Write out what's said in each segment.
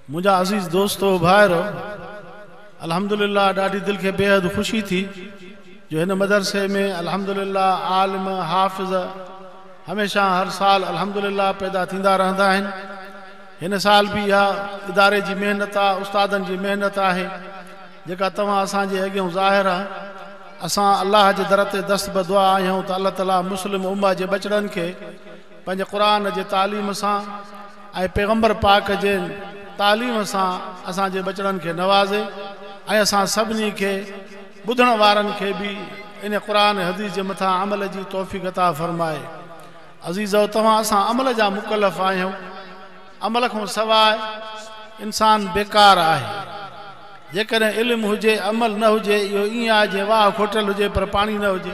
منهنجا عزيز دوستو ڀائرو! الحمدلله ڏاڍي دل کي بيحد خوشي ٿي جو هن مدرسي ۾ الحمدلله عالم، حافظ هميشه هر سال الحمدلله پيدا ٿيندا رهندا آهن. هن سال به اها اداري جي محنت آ، استادن جي محنت آهي جيڪا توهان اسان جي اڳيون ظاهر آ. اسان الله جي در تي دست بدعا آهيون ته الله تعالي مسلم امه جي ٻچڙن کي پنهنجي قرآن جي تعليم سان ۽ پيغمبر پاڪ جي تعليم سان اسان جي ٻچڙن کي نوازي ۽ اسان سڀني کي ٻڌڻ وارن کي به ان قرآن حديث جي مٿان عمل جي توفيق عطا فرمائي عزيزؤ توهان اسان عمل جا مڪلف آهيون عمل کان سواء انسان بيڪار آهي جيڪڏهن علم هجي عمل نه هجي اهو ائين آهي جيئن واهه کوٽيل هجي پر پاڻي نه هجي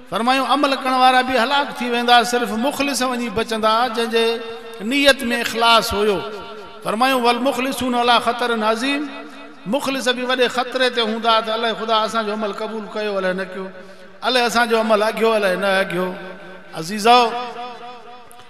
فرمايو، عمل ڪرڻ وارا به هلاڪ ٿي ويندا، صرف مخلص وڃي بچندا، جنهن جي نيت ۾ اخلاص هيو. فرمايو، والمخلصون عليٰ خطر عظيم مخلص به وڏي خطري تي هوندا ته الائي خدا اسان جو عمل قبول ڪيو الائي نه ڪيو، الائي اسان جو عمل اگهيو الائي نه اگهيو. عزيزؤ!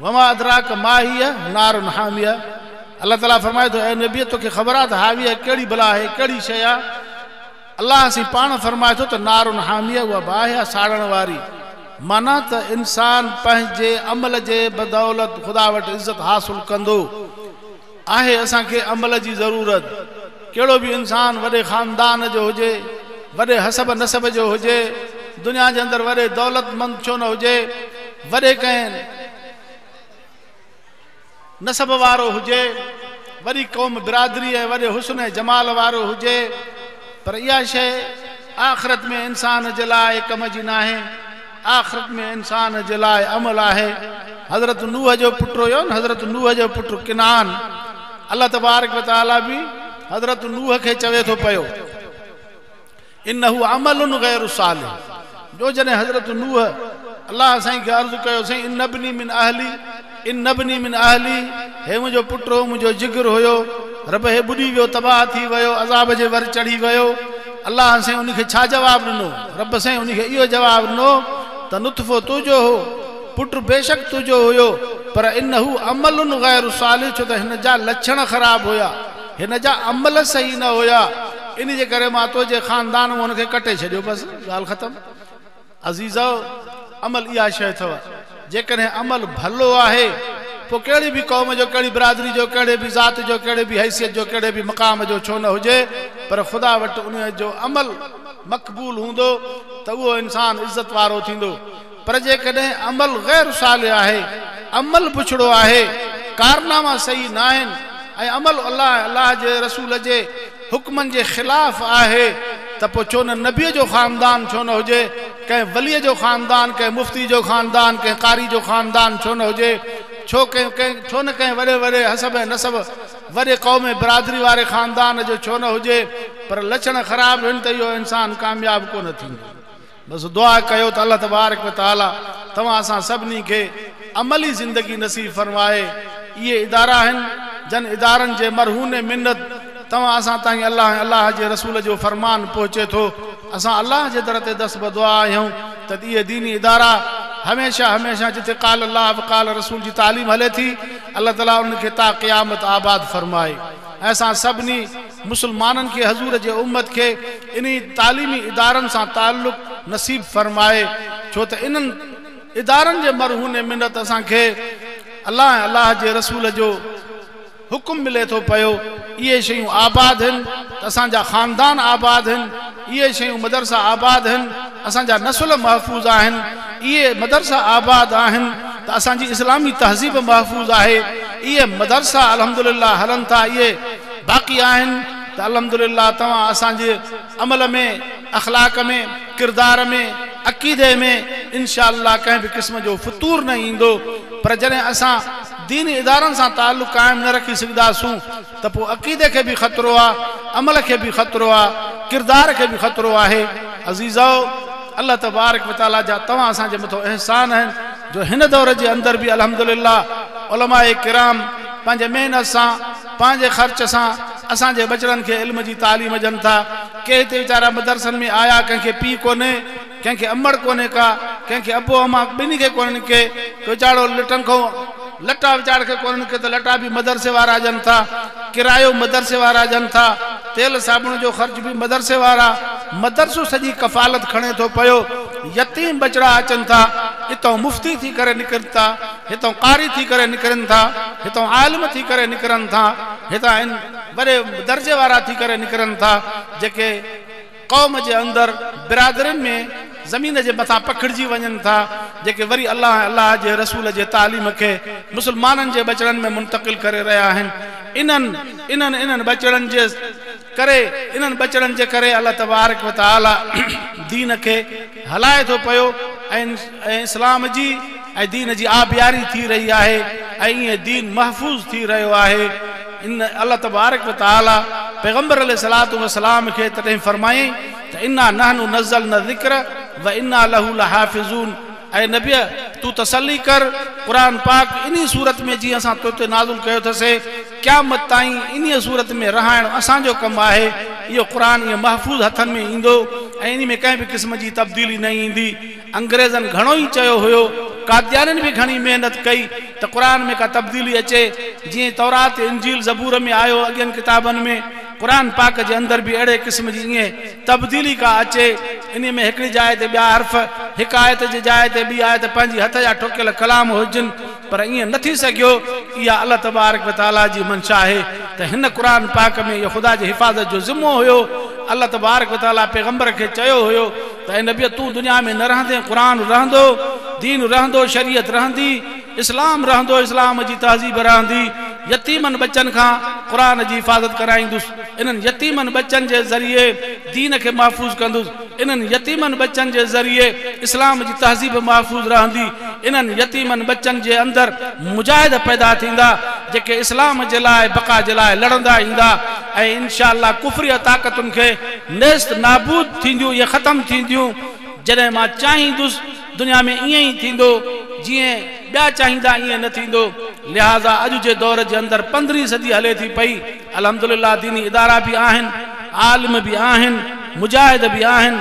وما ادراک ما هي نار حاميه الله تعالي فرمائي ٿو اي نبي توکي خبر آهي ته حاويه ڪهڙي بلا آهي ڪهڙي شيء آهي الله سين پاڻ فرمائي ٿو ته نار حاميه اها باهه آهي ساڙڻ واري معنيٰ ته انسان پنهنجي عمل جي بدولت خدا وٽ عزت حاصل ڪندو آهي اسان کي عمل جي ضرورت ڪهڙو به انسان وڏي خاندان جو هجي وڏي حسب نسب جو هجي دنيا جي اندر وڏي دولت مند ڇو نه هجي وڏي ڪنهن نسب وارو هجي وڏي قوم برادري ۽ وڏي حسن ۽ جمال وارو هجي پر اها شيء آخرت ۾ انسان جي لاء ڪم جي ناهي آخرت ۾ انسان جي لاء عمل آهي. حضرت نوح جو پٽ هيون حضرت نوح جو پٽ ڪنعان الله تبارڪ وتعالي به حضرت نوح کي چوي ٿو پيو انه عمل غير صالح جو جڏهن حضرت نوح الله سائين کي عرض ڪيو سائين ان ابني من اهلي ان ابني من اهلي، هي منهنجو پٽ هو، منهنجو جگر هيو، رب هي ٻڏي ويو، تباهه ٿي ويو، عذاب جي ور چڙهي ويو، الله سائين ان کي ڇا جواب ڏنو؟ رب سائين ان کي اهو جواب ڏنو ته نطفو تنهنجو هو، پٽ بيشڪ تنهنجو هيو، پر انه عمل غير صالح ڇو ته هن جا لڇڻ خراب هيا، هن جا عمل صحيح نه هيا، ان جي ڪري مان تنهنجي خاندان مان هن کي ڪٽي ڇڏيو، بس ڳالهه ختم. عزيزؤ! عمل اها شيء اٿئو، جيڪڏهن عمل ڀلو آهي، پوء ڪهڙي به قوم جو، ڪهڙي برادري جو، ڪهڙي به ذات جو، ڪهڙي به حيثيت جو، ڪهڙي به مقام جو ڇو نه هجي، پر خدا وٽ ان جو عمل مقبول هوندو ته اهو انسان عزت وارو ٿيندو. پر جيڪڏهن عمل غير صالح آهي، عمل بڇڙو آهي، ڪارناما صحيح ناهن ۽ عمل الله ۽ الله جي رسول جي حڪمن جي خلاف آهي ته پوء ڇو نه نبيء جو خاندان ڇو نه هجي ڪنهن وليء جو خاندان ڪنهن مفتي جو خاندان ڪنهن قاري جو خاندان ڇو نه هجي ڇو ڪنهن ڇو نه ڪنهن وڏي وڏي حسب ۽ نسب وڏي قوم ۽ برادري واري خاندان جو ڇو نه هجي پر لڇڻ خراب هن ته اهو انسان ڪامياب ڪونه ٿيندو بس دعا ڪيو ته الله تبارڪ و تعالي توهان اسان سڀني کي عملي زندگي نصيب فرمائي. اهي ادارا آهن جن ادارن جي مرهون منت توهان اسان تائين الله ۽ الله جي رسول جو فرمان پهچي ٿو. اسان الله جي در تي دست بدعا آهيون ته اهي ديني ادارا هميشه هميشه جتي قال الله و قال رسول جي تعليم هلي ٿي الله تعالي انهن کي تا قيامت آباد فرمائي ۽ اسان سڀني مسلمانن کي حضور جي امت کي انهي تعليمي ادارن سان تعلق نصيب فرمائي ڇو ته انهن ادارن جي مرهون منت اسان کي الله ۽ الله جي رسول جو حڪم ملي ٿو پيو اهي شيون آباد هن ته اسان جا خاندان آباد هن اهي شيون مدرسا آباد هن اسان جا نسل محفوظ آهن اهي مدرسا آباد آهن ته اسان جي اسلامي تهذيب محفوظ آهي اهي مدرسا الحمدلله هلن ٿا اهي باقي آهن ته الحمدلله توهان اسان جي عمل ۾ اخلاق ۾ ڪردار ۾ عقيدي ۾ انشاء الله ڪنهن به قسم جو فتور نه ايندو پر جڏهن اسان ديني ادارن سان تعلق قائم نه رکي سگهداسون ته پوء عقيدي کي به خطرو آهي عمل کي به خطرو آهي ڪردار کي به خطرو آهي عزيزؤ الله تبارڪ وتعالي جا توهان اسان جي مٿو احسان آهن جو هن دور جي اندر به الحمدلله علماء ڪرام پنهنجي محنت سان پنهنجي خرچ سان اسان جي ٻچڙن کي علم جي تعليم ڏين ٿا. ڪي هتي ويچارا مدرسن ۾ آيا ڪنهن کي پيء ڪونهي، ڪنهن کي امڙ ڪونهي ڪا، ڪنهن کي ابو اما ٻنهي کي ڪونهن ڪي ويچارو لٽن کون لٽا ويچاري کي ڪونهن ڪي ته لٽا به مدرسي وارا ڏين ٿا، ڪرايو مدرسي وارا ڏين ٿا، تيل صابڻ جو خرچ به مدرسي وارا، مدرسو سڄي ڪفالت کڻي ٿو پيو، يتيم ٻچڙا اچن ٿا اتئون مفتي ٿي ڪري نڪرن ٿا. هتان قاري ٿي ڪري نڪرن ٿا، هتان عالم ٿي ڪري نڪرن ٿا، هتان ان وڏي درجي وارا ٿي ڪري نڪرن ٿا، جيڪي قوم جي اندر برادرين ۾ زمين جي مٿان پکڙجي وڃن ٿا، جيڪي وري الله ۽ الله جي رسول جي تعليم کي مسلمانن جي ٻچڙن ۾ منتقل ڪري رهيا آهن. انهن، انهن، انهن ٻچڙن جي. ڪري انهن ٻچڙن جي ڪري الله تبارڪ و تعالي دين کي هلائي ٿو پيو ۽ اسلام جي ۽ دين جي آبياري ٿي رهي آهي ۽ ائين دين محفوظ ٿي رهيو آهي ان الله تبارڪ و تعالي پيغمبر عليه الصلاة والسلام کي تڏهن فرمايائين ته انا نحن نزلنا الذڪر وانا له لحافظون اي نبيء! تون تسلي ڪر، قرآن پاڪ انهيء صورت ۾ جيئن اسان توتي نازل ڪيو اٿسي، قيامت تائين انهيء صورت ۾ رهائڻ اسان جو ڪم آهي، اهو قرآن ائين محفوظ هٿن ۾ ايندو ۽ انهي ۾ ڪنهن به قسم جي تبديلي نه ايندي. انگريزن گهڻو ئي چيو هيو، قاديانين به گهڻي محنت ڪئي ته قرآن ۾ ڪا تبديلي اچي، جيئن تورات، انجيل، زبور ۾ آيو، اڳين ڪتابن ۾. قرآن پاڪ جي اندر به اهڙي قسم جي ائين تبديلي ڪا اچي، انهي ۾ هڪڙي جاء تي ٻيا حرف، هڪ آيت جي جاء تي ٻي آيت پنهنجي هٿ جا ٺوڪيل ڪلام هجن، پر ائين نه ٿي سگهيو، اها الله تبارڪ و تعاليٰ جي منشا آهي ته هن قرآن پاڪ ۾ اهو خدا جي حفاظت جو ذمو هيو، الله تبارڪ و تعاليٰ پيغمبر کي چيو هيو ته اي نبيء تون دنيا ۾ نه رهندين قرآن رهندو، دين رهندو، شريعت رهندي. اسلام رهندو اسلام جي تهذيب رهندي يتيمن ٻچن کان قرآن جي حفاظت ڪرائيندس انهن يتيمن ٻچن جي ذريعي دين کي محفوظ ڪندس انهن يتيمن ٻچن جي ذريعي اسلام جي تهذيب محفوظ رهندي انهن يتيمن ٻچن جي اندر مجاهد پيدا ٿيندا جيڪي اسلام جي لاء بقا جي لاء لڙندا ايندا ۽ انشاء الله ڪفريه طاقتن کي نيست نابود ٿينديون يا ختم ٿينديون جڏهن مان چاهيندس دنيا ۾ ائين ئي ٿيندو، جيئن ٻيا چاهيندا ائين نه ٿيندو، لهٰذا اڄ جي دور جي اندر پندرهين صدي هلي ٿي پئي، الحمدلله ديني ادارا به آهن، عالم به آهن، مجاهد به آهن،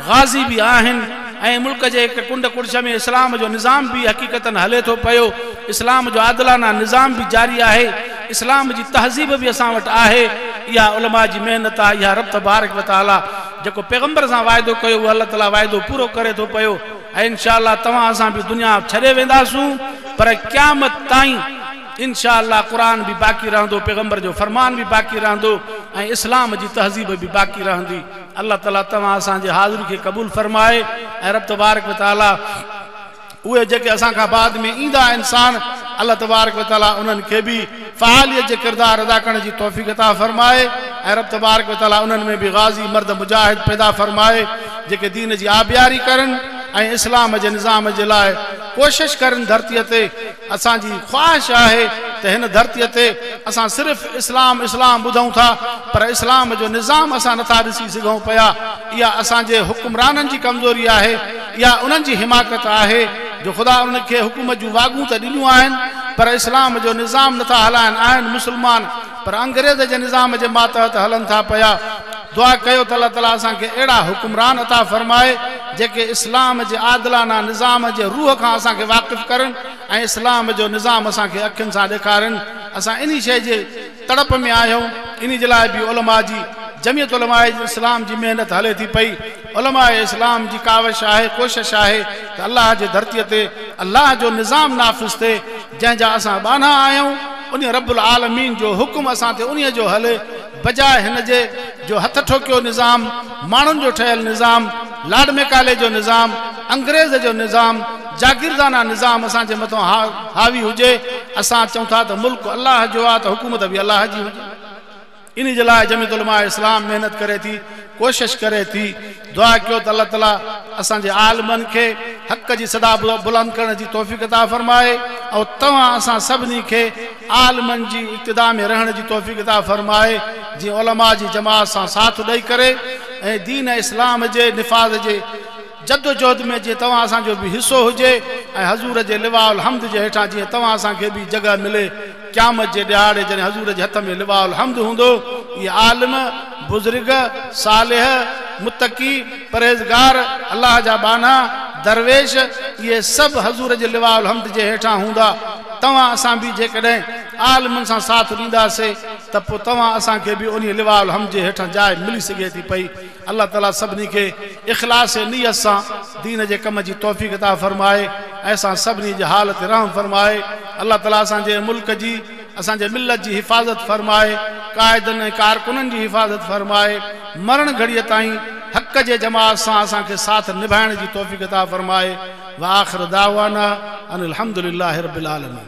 غازي به آهن ۽ ملڪ جي هڪ ڪنڊ ڪڙڇ ۾ اسلام جو نظام به حقيقتن هلي ٿو پيو، اسلام جو عادلانه نظام به جاري آهي، اسلام جي تهذيب به اسان وٽ آهي، اها علماء جي محنت آهي، اها رب تبارڪ وتعاليٰ. جيڪو پيغمبر سان واعدو ڪيو اهو الله تعالي واعدو پورو ڪري ٿو پيو ۽ ان شاء الله توهان اسان به دنيا ڇڏي وينداسون پر قيامت تائين ان شاء الله قرآن به باقي رهندو پيغمبر جو فرمان به باقي رهندو ۽ اسلام جي تهذيب به باقي رهندي الله تعالي توهان اسان جي حاضري کي قبول فرمائي ۽ رب تبارڪ وتعالي اهي جيڪي اسان کان بعد ۾ ايندا انسان الله تبارڪ و تعالي انهن کي به فعاليت جي ڪردار ادا ڪرڻ جي توفيق عطا فرمائي ۽ رب تبارڪ و تعالي انهن ۾ به غازي مرد مجاهد پيدا فرمائي جيڪي دين جي آبياري ڪرن ۽ اسلام جي نظام جي لاء ڪوشش ڪرن ڌرتي تي اسان جي خواهش آهي ته هن ڌرتي تي اسان صرف اسلام اسلام ٻڌون ٿا پر اسلام جو نظام اسان نٿا ڏسي سگهون پيا اها اسان جي حڪمرانن جي ڪمزوري آهي اها انهن جي حماقت آهي جو خدا انهن کي حڪومت جون واڳون ته ڏنيون آهن پر اسلام جو نظام نٿا هلائن آهن مسلمان پر انگريز جي نظام جي ماتحت هلن ٿا پيا. دعا ڪيو ته الله تعالي اسان کي اهڙا حڪمران عطا فرمائي جيڪي اسلام جي عادلانه نظام جي روح کان اسان کي واقف ڪرن ۽ اسلام جو نظام اسان کي اکين سان ڏيکارن اسان انهي شيء جي تڙپ ۾ آهيون انهي جي لاء به علماء جي جميعت علماء اسلام جي محنت هلي ٿي پئي علماء اسلام جي ڪاوش آهي ڪوشش آهي ته الله جي ڌرتي تي الله جو نظام نافذ ٿئي جنهن جا اسان ٻانها آهيون انهي رب العالمين جو حڪم اسان تي انهي جو هلي بجاء هن جي جو هٿ ٺوڪيو نظام، ماڻهن جو ٺهيل نظام، لارڊ ميڪالي جو نظام، انگريز جو نظام، جاگيردانه نظام اسان جي مٿان حاوي هجي، اسان چئون ٿا ته ملڪ الله جو آ ته حڪومت به الله جي هجي. انهي جي لاء جميعت علماء اسلام محنت ڪري ٿي. ڪوشش ڪري ٿي دعا ڪيو ته الله تعالي اسان جي عالمن کي حق جي صدا بلند ڪرڻ جي توفيق عطا فرمائي ۽ توهان اسان سڀني کي عالمن جي اقتدا ۾ رهڻ جي توفيق عطا فرمائي جي علماء جي جماعت سان ساٿ ڏئي ڪري ۽ دين اسلام جي نفاذ جي جدوجهد ۾ جيئن توهان اسان جو به حصو هجي ۽ حضور جي لواء الحمد جي هيٺان جيئن توهان اسان کي به جڳهه ملي قيامت جي ڏهاڙي جڏهن حضور جي هٿ ۾ لواء الحمد هوندو اهي عالم، بزرگ، صالح، متقي، پرهيزگار، الله جا ٻانها، درويش، اهي سڀ حضور جي لواء الحمد جي هيٺان هوندا توهان اسان به جيڪڏهن عالمن سان ساٿ ڏيندا سي ته پوء توهان اسان کي به انهي لواء الحمد جي هيٺان جاء ملي سگهي ٿي پئي الله تعالي سڀني کي اخلاص ۽ نيت سان دين جي ڪم جي توفيق عطا فرمائي ۽ اسان سڀني جي حال تي رحم فرمائي. الله تعالي اسان جي ملڪ جي اسان جي ملت جي حفاظت فرمائي، قائدن ۽ ڪارڪنن جي حفاظت فرمائي، مرڻ گهڙيء تائين حق جي جماعت سان اسان کي ساٿ نڀائڻ جي توفيق عطا فرمائي. وآخر دعوانا ان الحمدللّٰه رب العالمين.